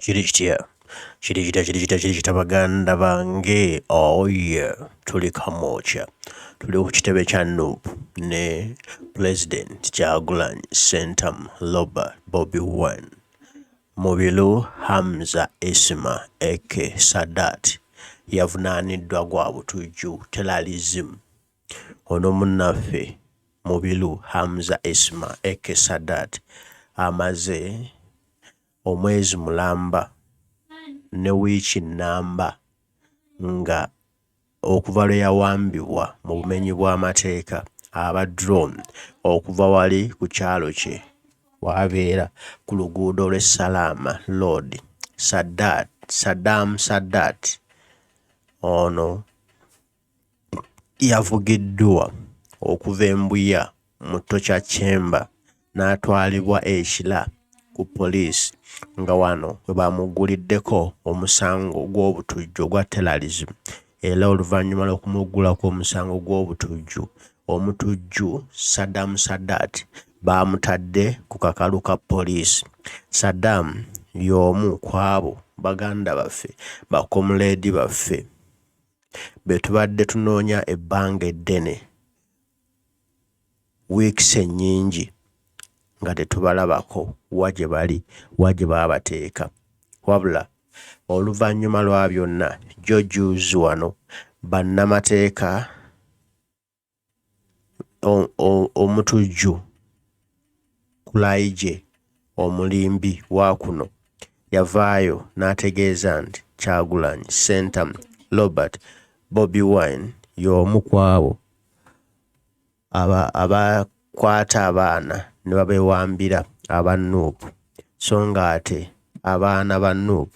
Kiri kitya? Kiri kitya, kiri kitya, kiri kitya baganda bange? Oh yeah, tuli Kamwokya. Tuli ku kitebe kya Nup ne Pulezidenti Kyagulanyi Ssentamu Robert Bobi Wine. Mubiru Hamza Isma aka Sadat yavunaaniddwa gwa butujju, terrorism. Ono munnaffe Mubiru Hamza Isma aka Sadat amaze omwezi mulamba ne wiiki nnamba nga okuva lwe yawambibwa mu bumenyi bw'amateeka aba drone okuva wali ku kyalo kye w'abeera ku luguudo lw'e Salaama Road. Sadat Sadam Sadat ono. Yavugiddwa okuva e Mbuya mu Torture Chamber n'atwalibwa e Kira ku poliisi nga wano we baamugguliddeko omusango gw'obutujju ogwa terrorism era oluvannyuma lw'okumuggulako omusango gw'obutujju, omutujju Sadam Sadat baamutadde ku kakalu ka poliisi. Sadam y'omu kw'abo baganda baffe, ba komuleedi baffe. be tubadde tunoonya ebbanga eddene, weeks ennyingi nga tetubalabako wa gye bali wa gye baabateeka wabula oluvannyuma lwa byonna George Uzi wano bannamateeka Omutujju, Kulayigye omulimbi wa kuno yavaayo n'ategeeza nti Kyagulanyi Ssentamu Robert, Bobi Wine, y'omu ku abo abakwata abaana ne babewambira aba nup so ng'ate abaana ba nup,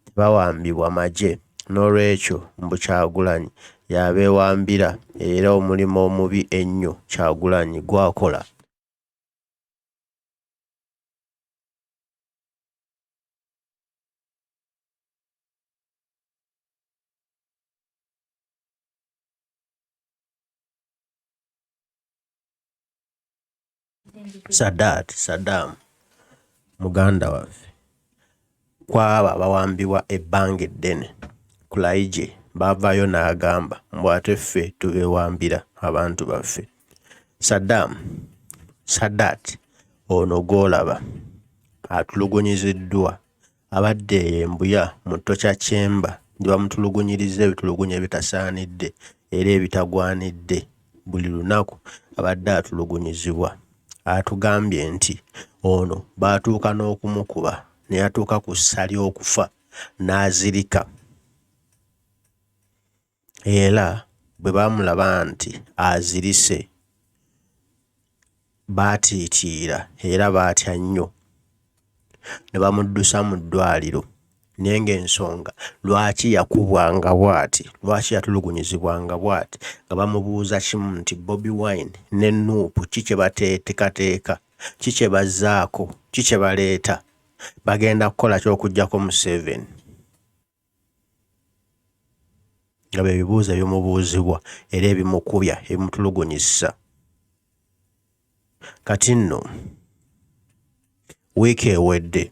tebawambibwa magye n'olwekyo mbu Kyagulanyi y'abeewambira era omulimu omubi ennyo Kyagulanyi gw'akola Sadat Sadam muganda waffe kwabo abawambibwa ebbanga eddene Kulaigye bavaayo n'agamba mbu ate ffe tubewambira abantu baffe Sadam Sadat ono gwolaba atulugunyiziddwa Abadde eyo e Mbuya mu Torture Chamber gye bamutulugunyirizza ebitulugunya ebitasaanidde era ebitagwanidde buli lunaku abadde atulugunyizibwa. Atugambye nti ono baatuuka n'okumukuba ne yatuuka ku ssa ly'okufa n'azirika. era bwe baamulaba nti azirise baatiitiira era baatya nnyo ne bamuddusa mu ddwaaliro naye ng'ensonga lwaki yakubwanga bwati, lwaki yatulugunyizibwanga bwati nga bamubuuza kimu nti Bobi Wine ne Nup ki kye bateetekateeka, ki kye bazzaako, ki kye baleeta, bagenda kukola ki okuggyako Museveni. nga bye bibuuzo ebimubuuzibwa era ebimukubya ebimutulugunyizza kati nno wiiki ewedde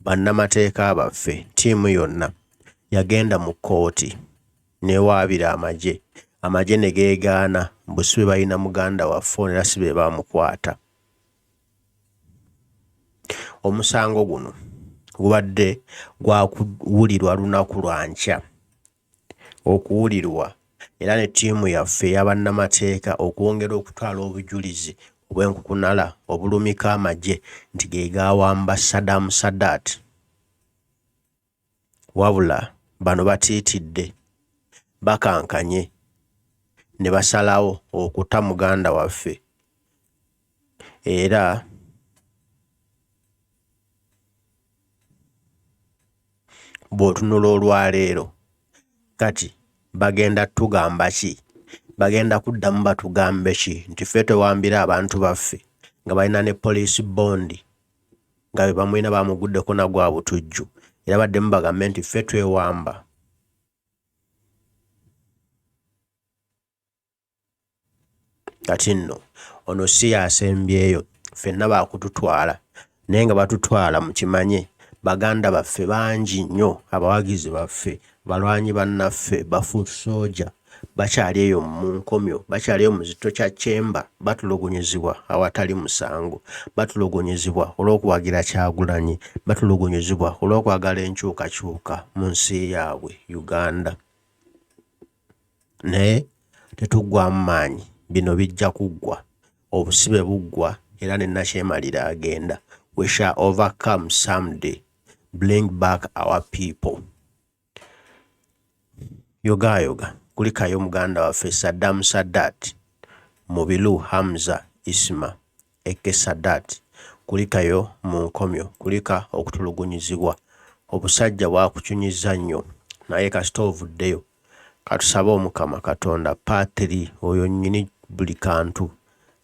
bannamateeka baffe ttiimu yonna yagenda mu kkooti n'ewaabira amagye amagye ne geegaana mbu si be balina muganda waffe ono era si be baamukwata. Omusango guno gubadde gwakuwulirwa lunaku lwa nkya okuwulirwa era ne ttiimu yaffe eya bannamateeka okwongera okutwala obujulizi obw'enkukunala obulumika amagye nti ge gaawamba Sadam Sadat. Wabula bano batiitidde, bakankanye ne basalawo okuta muganda waffe era bw'otunula olwaleero kati bagenda tugamba ki? Bagenda kuddamu batugambe ki nti ffe twewambira abantu baffe nga balina ne poliisi bbondi nga be bamulina baamuguddeko na gwa butujju era baddemu bagambe nti ffe twewamba kati nno ono si yasembyeyo ffenna baakututwala naye nga batutwala mu kimanye baganda baffe bangi nnyo abawagizi baffe balwanyi bannaffe bafu sooja bakyali eyo mu nkomyo, bakyali eyo mu kizito kya kyemba, batulugunyizibwa awatali musango, batulugunyizibwa olw'okuwagira Kyagulanyi, batulugunyizibwa olw'okwagala enkyukakyuka mu nsi yaabwe Uganda. Naye tetuggwamu maanyi, bino bijja kuggwa, obusibe buggwa era ne nakyemalira agenda. We shall overcome someday, bring back our people. Yogaayoga, kulikayo muganda waffe Saddam Sadat, Mubilu Hamza Isma aka Sadat, kulikayo mu nkomyo, kulika okutulugunyizibwa, obusajja bwakucunyizza nnyo naye kasita ovuddeyo, katusabe Omukama Katonda Paatiri oyo nnyini buli kantu.